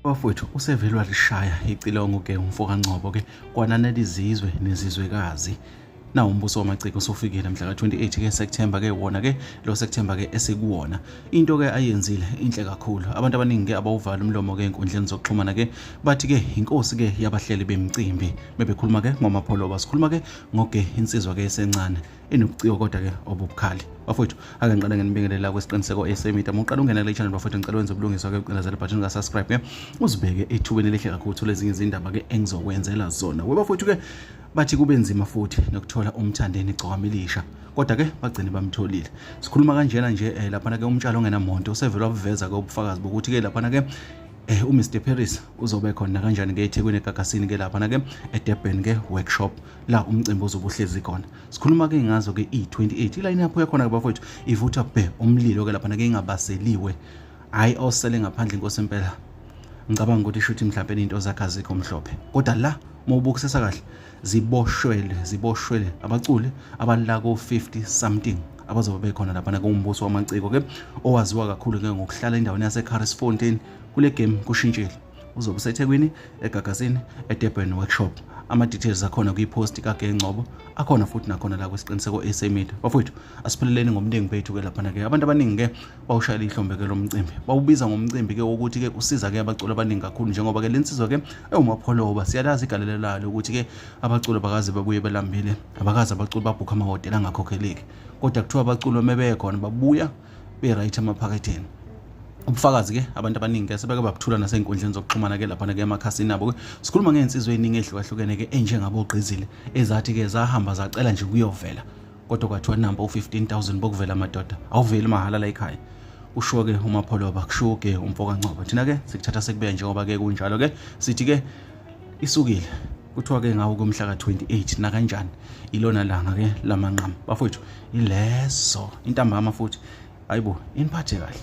bafowethu usevelwa lishaya icilongo ke umfo kaNgcobo ke kwananela izizwe nezizwekazi na umbuso wamaciko usufikile mhla ka-28 ke September ke wona ke lo September ke esikuwona into ke ayenzile inhle kakhulu abantu abaningi ke abawuvala umlomo ke enkundleni zokuxhumana ke bathi ke inkosi ke yabahleli bemcimbi bebekhuluma ke ngomapholoba sikhuluma ke ngoge insizwa ke esencane inobuciko kodwa ke obubukhali bafowethu ake ngiqale ngenibingelela kwesiqiniseko esemida muqala ungena kule channel bafowethu ngicela wenze ubulungiswa ke ucindezela button ka subscribe ke uzibeke ethubeni elihle kakhulu uthola ezinye izindaba ke engizokwenzela zona we bafowethu ke bathi kube nzima futhi nokuthola umthandeni igcokama elisha kodwa ke bagcine bamtholile sikhuluma kanjena nje eh, laphana ke umtshalo ongenamonto usevele wabuveza ke ubufakazi bokuthi ke laphana ke eh uMr Paris uzobe khona kanjani ke eThekwini eGagasini ke lapha na ke eDurban ke workshop la umcimbi ozobe uhlezi khona sikhuluma-ke ngazo-ke i-28 ilayini yapho yakhona-ke bafowethu ivutha bhe umlilo-ke laphana-ke ingabaseliwe hhayi osele ngaphandle inkosi impela ngicabanga ukuthi shuthi mhlawumpe into zakhe azikho mhlophe kodwa la uma ubukisisa kahle ziboshwele ziboshwele abaculi abala ko-50 something abazobe bekhona laphana kuwumbuso wamaciko-ke owaziwa kakhulu-ke ngokuhlala endaweni yasecarrisfontein kule game kushintshile uzobe usethekwini egagazini edurban workshop ama-details akhona kwiposti kagengcobo akhona futhi nakhona la kwisiqiniseko sa media bafowethu asipheleleni ngomningi bethu ke laphana-ke abantu abaningi-ke bawushayela ihlombe-ke lo mcimbi bawubiza ngomcimbi-ke wokuthi-ke usiza-ke abaculi abaningi kakhulu njengoba-ke le nsizwa-ke ewumapholoba siyalazi igalelo lalo ukuthi-ke abaculi abakaze babuye belambile abakaze abaculi babhukha amahhotela angakhokheleki kodwa kuthiwa abaculi uma bekhona babuya be right emaphaketheni ubufakazi ke abantu abaningi ke sebeke babuthula nasey'nkundleni zokuxhumana ke laphana ke emakhasini abo ke sikhuluma ngey'nsizwa ey'ningi ehlukahlukene ke enjengabogqizile ezathi ke zahamba zacela nje kuyovela kodwa kwathiwa namba u-15000 bokuvela amadoda awuveli mahhala la ekhaya usho-ke umapholoba kusho-ke umfokancwaba thina-ke sikuthatha sekubeka njengoba-ke kunjalo-ke sithi-ke isukile kuthiwa ke ngawo komhla ka-28 nakanjani ilona langa ke lamanqama bafowethu ilezo intambama futhi hayibo iniphathe kahle